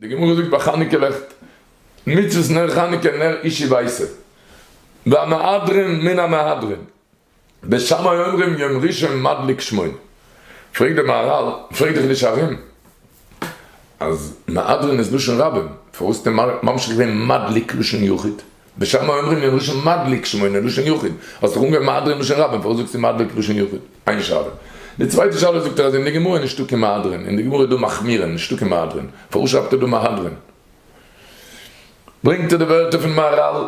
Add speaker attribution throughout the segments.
Speaker 1: די גמרא זאגט ביי חנוכה לעכט, מצות נר חנוכה נר אישי ווייסער, והמהדרין מן המהדרין, בשמאי אומרים יום ראשון מדליק שמונה, פרעגט דער מהרל, פרעג דיך נישט ארום, אז מהדרין איז לשון רבים, פארוואס האט ער ממשיך געווען מדליק לשון יחיד? ושם אומרים אין לשון מדליק שמונה לשון יחיד, האסט דאך אנגעהויבן מהדרין לשון רבים פארוואס זאגסטו מדליק לשון יחיד? איין שאלה. די צווייטע שאלה זאגט ער אז אין די גמרא איז נישטא קיין מהדרין, אין די גמרא איז דא מחמירין, נישטא קיין מהדרין, פארוואס שרייבט ער דא מהדרין? ברענגט ער די ווערטער פון מהרל,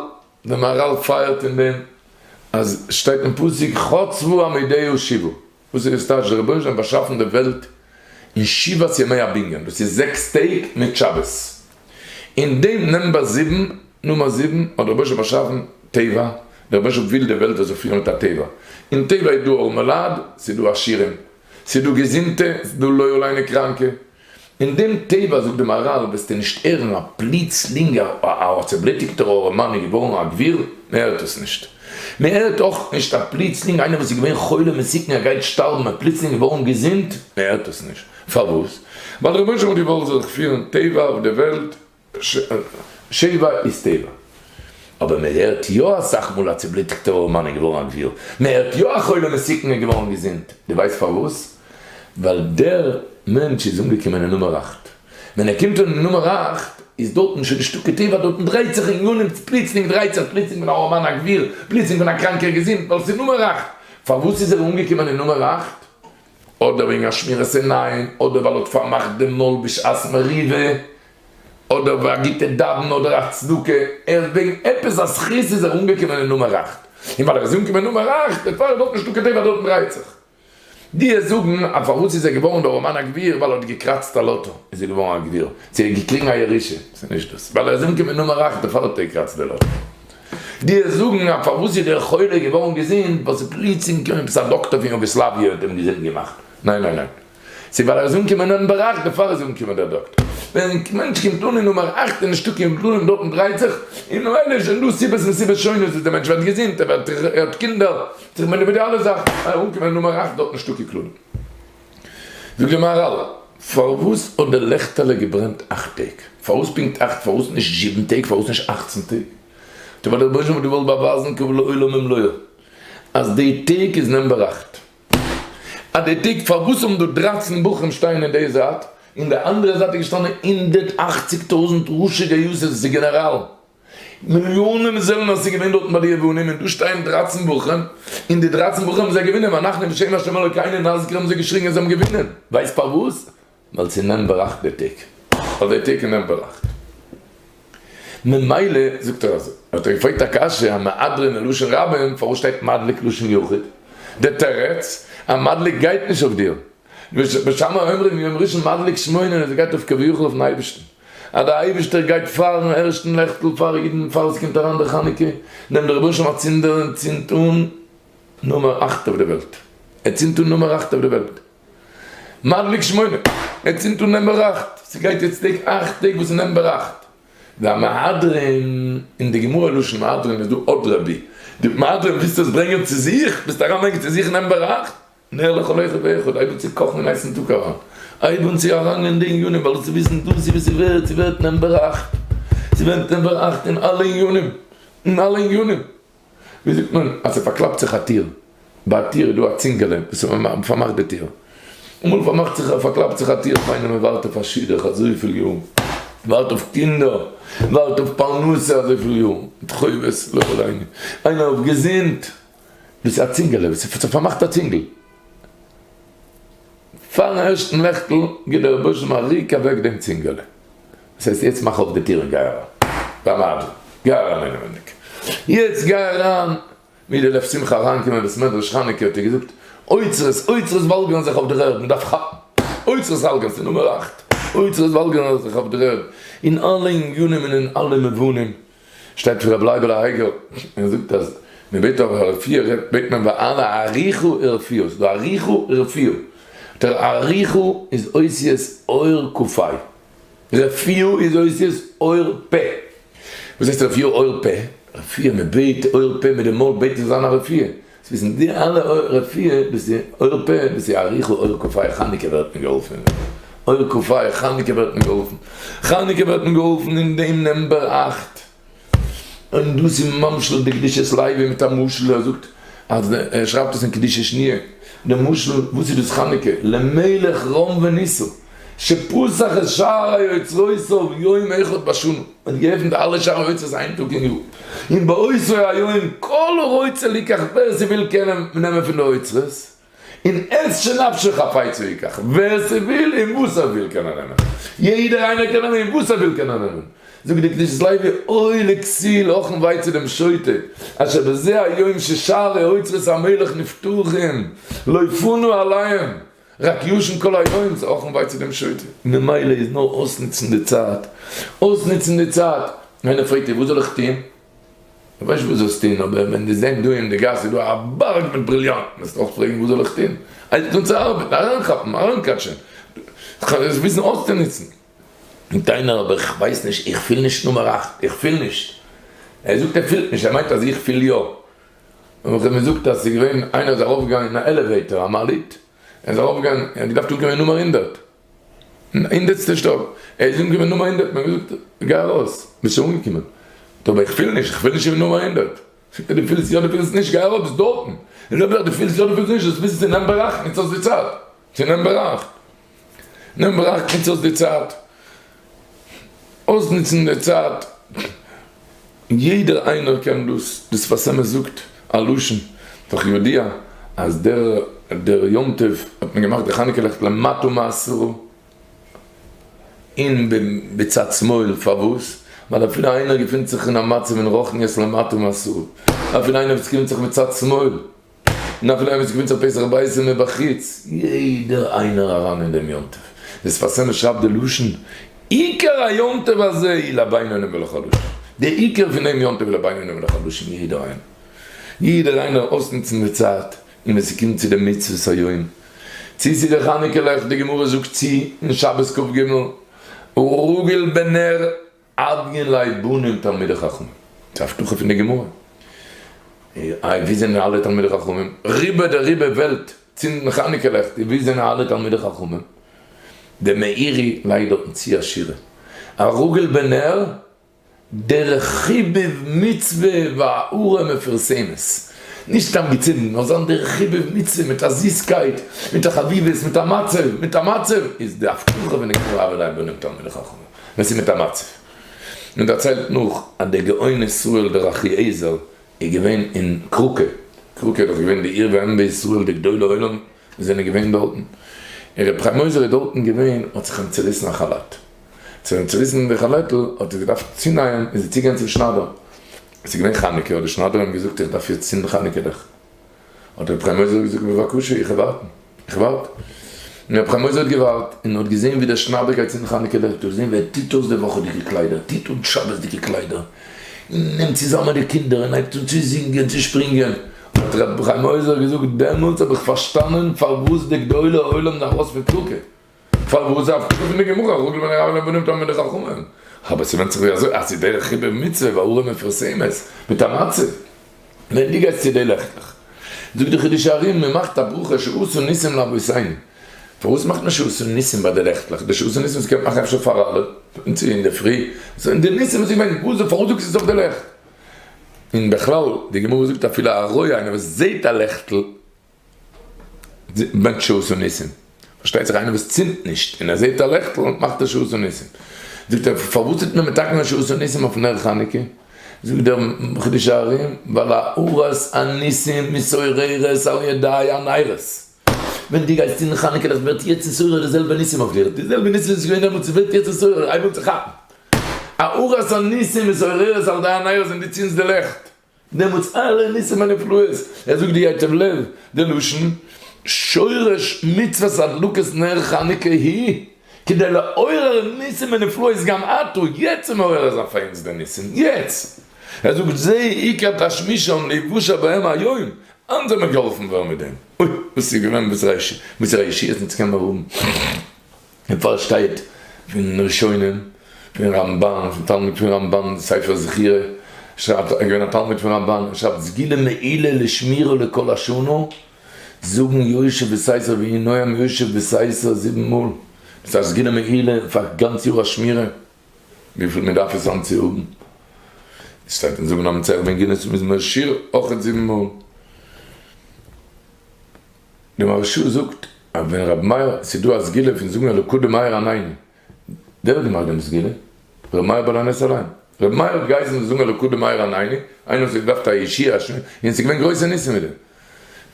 Speaker 1: די מהרל פייערט אין דעם אז שטייט אין פסוק חצבו עמודי השיבה, וואס איז עס טייטש דער רבונו של עולם האט באשאפן די וועלט אין שבעת ימי הבנין דאס איז זעקס טעג מיט שבת אין דעם נומבער זיבן נומער זיבן האט דער רבונו של עולם באשאפן טבע דער רבונו של עולם וויל די וועלט זאל זיך פירן מיט א טבע אין טבע איז דא ארמעלייט ס'איז דא עשירים ס'איז דא געזונטע ס'איז דא לויערליינע קראנקע אין דעם טבע, זאגט די מאראל, וועסטו נישט הערן א פלוצלינגער א א צעבלוטיגטער ארעמאן איז געווארן א גביר, מען הערט עס נישט. מען הערט אויך נישט א פלוצלינג איינער וואס איז געווען חולה מסוכן ער גייט שטארבן און פלוצלינג איז געווארן געזונט, מען הערט עס נישט. פארוואס? ווייל דער רבונו של עולם האט געוואלט זיך פירן טבע אויף די וועלט שיבה איז טבע. אבער מען הערט יא אסאך מאל א צובליטיגטע ארעמאן איז געווארן א גביר, מען הערט יא א חולה מסוכן איז געווארן געזונט, דו ווייסט פארוואס? ווייל דער מענטש איז אנגעקומען אין נומער אכט, ווען ער קומט אן אין נומער אכט איז דארטן שוין נישטא קיין טבע, דארטן דרייט זיך אין גנים, פלוצלינג דרייט זיך, פלוצלינג פון א ארעמאן א גביר, פלוצלינג פון א קראנקער געזונט, ווייל עס איז נומער אכט, פארוואס איז ער אנגעקומען אין נומער אכט? אדער וועגן א שמירת עיניים, אדער ווייל ער האט פארמאכט דעם מויל בשעת מריבה, אדער ווי א גוטע דאווענער אדער א צדקה, ער איז וועגן עפעס א זכות איז ער אנגעקומען אין נומער אכט, און ווייל ער איז אנגעקומען אין נומער אכט דערפאר איז דארט נישטא כתיבה דארט דרייט זיך דיע זאגן אז פארוואס איז ער געווארן דער אמן הגביר ווייל ער האט געקראצט א לאטא איז ער געווארן א גביר, צו ער האט געקריגן א ירושה, ס'איז נישט דאס, ווייל ער איז אנגעקומען אין נומער אכט דערפאר האט ער געקראצט די לאטא. די וועסט זאגן אז פארוואס איז דער חולה געווארן געזונט ווייל ס'איז פלוצים געקומען עפעס א דאקטער פון יוגאסלאוויע און האט אים געזונט געמאכט? ניין ניין ניין, ס'איז ווייל ער איז אנגעקומען אין באראך בעפאר איז אנגעקומען דער דאקטער. ווען א מענטש קומט אן אין נומער אַכט און נישטא קיין בלוים דארטן דרייט זיך, און ממילא איז שוין דא סיבות און סיבות שונות וואס דער מענטש ווערט געזונט, ער האט קינדער, ער האט זיך מעניווע די אלע זאכן, אנגעקומען אין נומער אַכט דארט נישטא קיין כללים. זאגט די מהרל, פארוואס האט די לעכטעלע געברענט אכט טעג? פארוואס פונקט אכט? פארוואס נישט זיבן טעג? פארוואס נישט אכצן טעג? טא ווייל דער רבונו של עולם האט געוואלט באווייזן קבל לעולם ומלואו אז די טעג איז נומבער אכט, אז די טעג פארוואס האבן דא דרײַצן בחורים שטייען אין די זייט, אין די אנדערע זייט איז געשטאנען הונדערט אַכציק טויזענט ראשי גייוסעס גענעראלן, מיליאנען זעלנער איז געווען דארטן ביי די יוונים און דא שטייען דרײַצן בוחרים און די דרײַצן בוחרים זיי געווינען ואנחנו בשם השם אלוקינו נזכיר האבן זיי געשריגן און זיי האבן געווינען ווייסט פארוואס? ווייל ס'איז נעם בראכט דער טאג אויף דער טאג איז נעם בראכט ממילא זאגט ער אזוי האט ער געפרעגט א קשיא א מהדרין אין לשון רבים פארוואס שטייט מדליק לשון יחיד? דער תירץ א מדליק גייט נישט אויף דיר ושמה אומרים יום ראשון מדליק שמונה און עס גייט אויף כביכול אויפן אייבערשטן אז דער אייבערשטער גייט פארן ערשטן לעכטל פאר אידן פאר עס קומט אריין דער חנוכה נעמט דער רבוש ע א צינדער און צינדט אן נומער אכט אויף די וועלט ער צינדט אן נומער אכט אויף די וועלט מדליק שמונה ער צינדט אן נומבער אכט ס'גייט יעצט טעג אכט טעג וואס איז נומבער אכט והמהדרין אין די גמרא לשון מהדרין איז דא אדרבי די מהדרין ווילסט עס ברענגען צו זיך ווילסט אריינברענגען צו זיך נומבער אכט נר לכל אחד ואחד, אויב צו קאכן אין הייסן טאג אריין, אויב אן צו אריינגיין די עניינים, ווייל צו וויסן דאס איז וואס ס'ווערט, וואס ס'ווערט נעמט באראכט, ס'ווערט נעמט באראכט אין אלע עניינים, אין אלע עניינים, ווי זאגט מען, אז ס'פארקלאפט זיך א טיר, ביי א טיר איז דא א צינגעלע וואס פארמאכט די טיר, אמאל פארמאכט זיך, פארקלאפט זיך א טיר, איך מיין אז מ'ווארט אויף א שידוך אזויפיל יאר, מ'ווארט אויף קינדער, מ'ווארט אויף פרנסה אזויפיל יאר, מיט חובות לכל הענין, איינער האט געזינט. דאס איז א צינגעלע וואס איז פארמאכט א צינגל. פארן ערשטן לעכטל גיט דער רבוש ע א ריק אוועק דעם צינגעלע. דאס הייסט יעצט מאך אויף די טיר און גיי אריין. דיין מיידל, גיי אריין אינעווייניג. יעצט גיי אריין. ווי די לב שמחה אריינקומען בית מדרש חנוכה האט ער געזאגט, אוצרות, אוצרות וואלגערן זיך אויף דער ערד, מען דארף כאפן. אוצרות האלגערן פון נומער אכט. אוצרות וואלגערן זיך אויף דער ערד, אין אלע ענינים און אין אלע מובנים. שטייט פון רבי לייבל האיגר, ער זאגט אז מען בעט אויף א רפואה רעדט בעט מען ביי אלע אריכא רפואה, ס'איז דא אריכא רפואה, דער אריכא איז אותיות אור ק פ, רפואה איז אותיות אור פ, וואס הייסט רפואה אור פ? רפואה מען בעט אור פ מיט די מויל בעט מען זיין א רפואה. צווישן די אלע אור רפואה ביז די אור פה ביז די אריכו אור כפי חנוכה ווערט מען געהאלפן אור כפי חנוכה ווערט מען געהאלפן חנוכה ווערט מען געהאלפן אין דעם נומבער אַכט און דאס איז ממשל'ט בקדושת לוי מיט א משל ער זאגט אז די ער שרייבט עס אין קדושה שניה די משל וואס איז דאס חנוכה למלך רום וניסו שפסח את שער היוצרות אויף יום אחד בשנה. מען האט געעפנט אלע שערי אוצרות איין טאג אין יאר, און באותו היום כל רוצה לקח ווער ס'וויל קען נעמען פון די אוצרות, און עת שנפשו חפצה ייקח, ווער ס'וויל און וואס ער וויל קען ער נעמען, יעדער איינער קען נעמען און וואס ער וויל קען ער נעמען, זאגט דער קדושת לוי אוי לכסיל הכן וויי צו דעם שוטה אשר בזה היום ששערי אוצרות המלך נפתוחים לא יפונו אליהם, רק ישן כל היום איז אויך אן וויי צו דעם שוטה. ממילא איז נאר אויסנוצן די צייט. אויסנוצן די צייט. איינער פרעגט דיר וואס זאל איך טון? איך ווייס נישט וואס זאלסט טון, אבער ווען דו זען דא אין די גאס איז דא א בארג מיט בריליאנטן וועסטו אויך פרעגן וואס זאל איך טון? הייב זיך אן צו ארבעטן, אריינכאפן, אריינקאטשען. כ'האב עס וויסן אויסצונוצן. זאגט איינער אבער איך ווייס נישט, איך פיל נישט נומער אכט, איך פיל נישט. ער זאגט ער פילט נישט, ער מיינט אז איך פיל יא. און וואס האט מען געזאגט אז ס'איז געווען איינער איז ארויף געגאנגען אין א עלעוועיטאר א מעלית ער איז ארויף געגאנגען ער האט געדארפט אנקומען נומער הונדערט אין הונדערטסטע שטאק ער איז אנגעקומען נומער הונדערט מען האט געזאגט גיי ארויס ביסט שוין אנגעקומען אבער איך פיל נישט איך פיל נישט אין נומער הונדערט זאגט ער דו פילסט יא דו פילסט נישט גיי ארויף ביסט דארטן און אויב יא דו פילסט יא דו פילסט נישט דאס ביזנעס איז אין דיין באראכן יעצט האסטו צייט. צו נעם בראך. נעם בראך נוץ אויס די צייט. אויסנוצן די צייט. יעדער איינער קען דאס דאס פאר סעמעס זאגט א לשון פאר יודיע אז דער דער יום טוב האט מען געמאכט די חנוכה לעכט למטה מעשרה אין ביצת שמאל פארוואס ווייל אפילו איינער געפינט זיך אין א מצב אין רוחניות למטה מעשרה אפילו איינער וואס געפינט זיך בצד שמאל נאכן ערב איז געווען צו פסח בייסען אין בחוץ, יעדער איינער אריין אין דעם יום טוב, די שפת אמת שרייבט די לשון, עיקר היום טוב הזה היא לבינונים ולחלשים, די עיקר פון דעם יום טוב איז לבינונים ולחלשים, יעדער איינער, יעדער איינער אויסנוצן די צייט, און ווען ס'קומט צו די מצוות היום, צו צו די חנוכה לעכט, די גמרא זאגט צו אין שבת כג, רגל בנר. אדגען לייב בונם תלמידי חכמים, ס'איז א הבטחה פון די גמרא, איי ווי זענען אלע תלמידי חכמים, ריבא דריבא וועלט צינדן חנוכה לעכט, ווי זענען אלע תלמידי חכמים, דער מאירי לייגט דארטן צו א שורה, הרגל בנר דרך חיבוב מצוה והארה מפורסמת, נישט סתם געצינדן, נאר זיין דרך חיבוב מצוה מיט א זיסקייט, מיט א חביבות, מיט א מצב, מיט א מצב, איז די הבטחה פון די גמרא אדגען לייב בונם תלמידי חכמים. ווען ס'איז מיט א מצב. מען דערציילט נאך אז דער גאון ישראל דער אחיעזר איז געווען אין קראקע, קראקע איז דאך געווען די עיר ואם בישראל די גדולי עולם זענען געווען דארטן, און ר' חיים עוזר איז דארטן געווען האט זיך אים צוריסן א כאלאט, ס'איז אים צוריסן די כאלעטל האט ער געדארפט צונייען איז ער צוגעגאנגען צום שניידער, עס איז געווען חנוכה האט די שניידער אים געזאגט איך דארף יעצט צינדן חנוכה לעכט. האט רבי חיים עוזר געזאגט בבקשה איך ווארטן איך ווארט און רבי חיים עוזר האט געווארט און האט געזען ווי דער שניידער גייט צום חנוכה וועלט אויף זען ווי ער טוט אויס די וואכעדיגע קליידער טוט אן שבת'דיגע קליידער און נעמט צוזאמען די קינדער און הייבט אן צו זינגען צו שפרינגען האט רבי חיים עוזר געזאגט דעמאלטס האב איך פארשטאנען פארוואס די גדולי עולם זענען ארויס פון טורקיה. פארוואס דארף כתוב אין די גמרא הרוגים בין הרבים לבנים תאמין בין החכמים? אבער ס'ווענדט זיך ווי אזוי, אז ס'איז דרך חיבור מצוה והאורה מפורסמת מיט א מצה, ווען דו גייסט צו די לעכטלעך, זאגט דער חידוש הרי מ מאכט א ברכה שעשו ניסים לאבותינו, פארוואס מאכט מען שעשו ניסים ביי די לעכטלעך? די שעשו ניסים וואס קען מען מאכן אפשר פאר אלע, פון צו אינדערפרי, זענען די ניסים וואס איז געווען, וואס דען פארוואס זאגסטו עס אויף די לעכט? און בכלל, די גמרא זאגט אפילו א רויע איינער וואס זעהט א לעכטל, מענטש שעות וניסים, פארשטייט זיך איינער וואס צינדט נישט און ער זעט א לעכטל מאכט ער שעות וניסים, זאגט ער פארוואס טוט מען מתקן שעות וניסים אויף נר חנוכה, זאגט דער חידוש הרים ווייל האורות הניסים מסוררות על ידי הנרות, ווען דו גייסט צינדן חנוכה לעכט ווערט יצר סורר די זעלבע ניסים אויף דיר, די זעלבע ניסים וואס איז געווען דעמאלטס ווערט יצר סורר אייוועלט זיך כאפן, האורות הניסים מסוררות על ידי הנרות ווען דו צינדסט די לעכט. דעמאלטס אלע ניסים ונפלאות, ער זאגט די ייטב לב די לשון, שורש מצוות הדלקת נר חנוכה היא כדי לעורר ניסים ונפלאות גם עתה, יעצט איז מעורר זיין פאר אונז די ניסים, יעצט! ער זאגט זה עיקר תשמישי און לבושי בהם היום, היינט זאל מען געהאלפן ווערן מיט דעם, אוי וואס איז געווען וואס ר' ישעי' האט אונז קען מען האבן. און פארשטייט פון ראשונים, פון רמב ן, פון תלמיד פון רמב ן, ספר זכירה, שרייבט ער איז געווען א תלמיד פון רמב ן, ער שרייבט סגילה מעילה לשמירה לכל השנה, זאגן יושב בסייסא ויהי נועם יושב בסייסא זיבן מאל, דאס איז א סגילה מעילה פאר גאנץ יאר א שמירה, וויפיל מען דארף עס אנצוהאבן, עס שטייט אין זמ א מצער בן גינת מזמור שיר אויכעט זיבן מאל. די מהרש א זאגט אז ווען רבי מאיר, עס איז דא א סגולה פון זאגן אלוקות דמאיר עניני, ווער האט געמאכט דעם סגולה? רבי מאיר בעל הנס אליין, רבי מאיר האט געהייסן זאל זאגן אלוקות דמאיר עניני, איינער וואס האט געדארפט א ישיעה א שמיעה, און עס איז געווען גרויסע ניסים מיט דעם.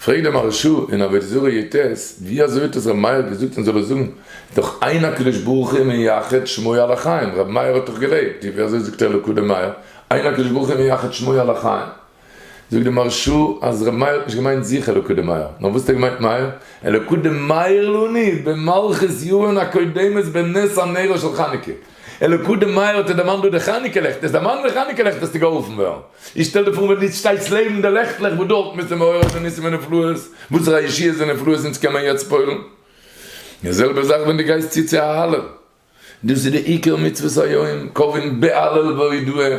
Speaker 1: פרעגט דער מהרש א אין עבודה זרה י ט, ווי אזוי האט עס רבי מאיר געזאגט מען זאל עס זאגן, איז דאך איין הקדוש ברוך הוא מייחד שמו על החיים, רבי מאיר האט דאך געלעבט, ווי אזוי זאגט ער אלוקות דמאיר, איין הקדוש ברוך הוא מייחד שמו על החיים? זאגט די מהרשא אז ר' מאיר האט נישט געמיינט זיך אלוקות דמאיר, נאר וואס האט ער געמיינט מאיר? אלוקות דמאיר לני במלכות יוארן הקודמת בנס הנרו של חנוכה, אלוקות דמאיר האט ער דערמאנט דא די חנוכה לעכט, עס דערמאנט די חנוכה לעכט וועסטו געהאלפן ווערן, איך שטעל דיר פאר ווען דו שטייסט לעבן די לעכטלעך וואס דארט מוזטו מעורר די ניסים ונפלאות, וואסערע א ישועות און נפלאות אונז קען מען יעצט פועל'ן, די זעלבע זאך ווען דו גייסט צו צו א האלל, דאס איז די עיקר מצוות היום, קובען ב ה הלל והודאה,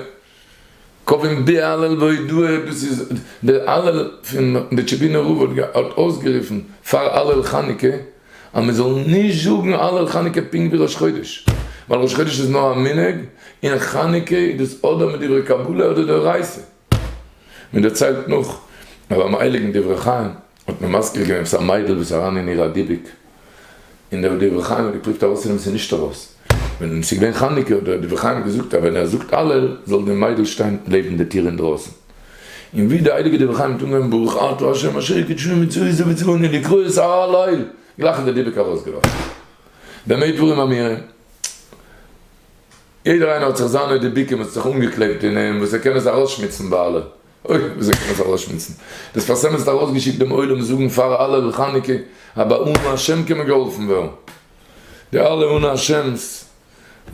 Speaker 1: קובען ב ה הלל והודאה, דאס איז די הלל פון די טשעבינער רב האט האט אויסגערופן פאר הלל חנוכה אז מען זאל נישט זאגן הלל חנוכה פונקט ווי ראש חודש, ווייל ראש חודש איז נאר א מנהג און חנוכה איז דאס אדער מיט דברי קבלה אדער דאורייסה. מען דערציילט נאך אז ביים הייליגן דברי חיים. האט מען מזכיר געווען וואס א מיידל וואס איז אריין אין איר א דיבוק, און דער דברי חיים האט געפרובט ארויסצונעמען ס'איז נישט ארויס, ווען ס'איז געווען חנוכה האט דער דברי חיים געזאגט אז ווען ער זאגט הלל זאל די מיידל שטיין לעבן די טיר אינדרויסן, און ווי די הייליגע דברי חיים האט אנגעהויבן ברוך אתה ה' אשר קידשנו מצוות ובצבנו לקרוא את הלל, גלייך איז די דיבוק ארויסגעלאפן. במה דברים אמירים? יעדער איינער האט זיך זיינע דיבוקים וואס האט זיך אנגעקלעבט אין אים וואס ער קען עס ארויסשמוצן ביי הלל, אוי, וויאזוי קען מען עס ארויסשמועסן? דאס פארסעם איז ארויסגעשיקט דעם עולם זאגן פאר אלע על חנוכה אז ביי אנא השם קען מען געהאלפן ווערן. די אלע אנא השם'ס,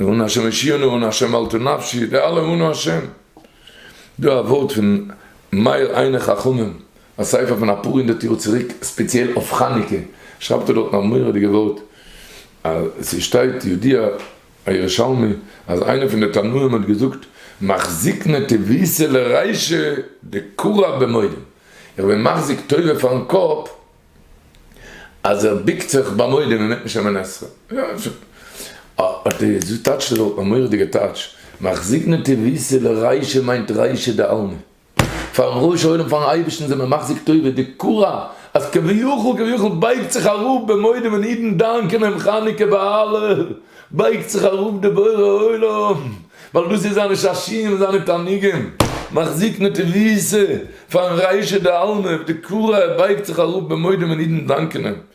Speaker 1: אנא השם הושיענו, אנא השם אל תור נפשי, די אלע אנא השם. דא א ווארט פון מאיר עיני חכמים, א ספר פון אפאר הונדערט יאר צוריק ספעציעל אויף חנוכה, שרייבט ער דארטן א מורא'דיגע ווארט, אז ס'שטייט יודיע א ירושלמי אז איינער פון די תנאים האט געזאגט מחזיק נטע וויסע לריישא דקרא במודים, איך בין מחזיק טובה פארן קאפ אז ער ביקט זיך ביי מודים און מענט נישט אמן עשרה, האט ער געטאטשט אזוי א מורא'דיגע טאטש, מחזיק נטע וויסע לריישא מיינט ריישא דעלמא. פארן ראש העולם פארן אייבערשטן זעמיר מחזיק טובה די קורה אז כביכול כביכול בייגט זיך אראפ במועדים ווען אידן דאנקען אים חנוכה בהלל בייגט זיך אראפ די בורא עולם ווייל דאס איז זיינע שעשיעים און זיינע תענוגים מחזיק נטובי'סע פארן ריישא דעלמא די קורה ער בייגט זיך אראפ במועדים ווען אידן דאנקען אים.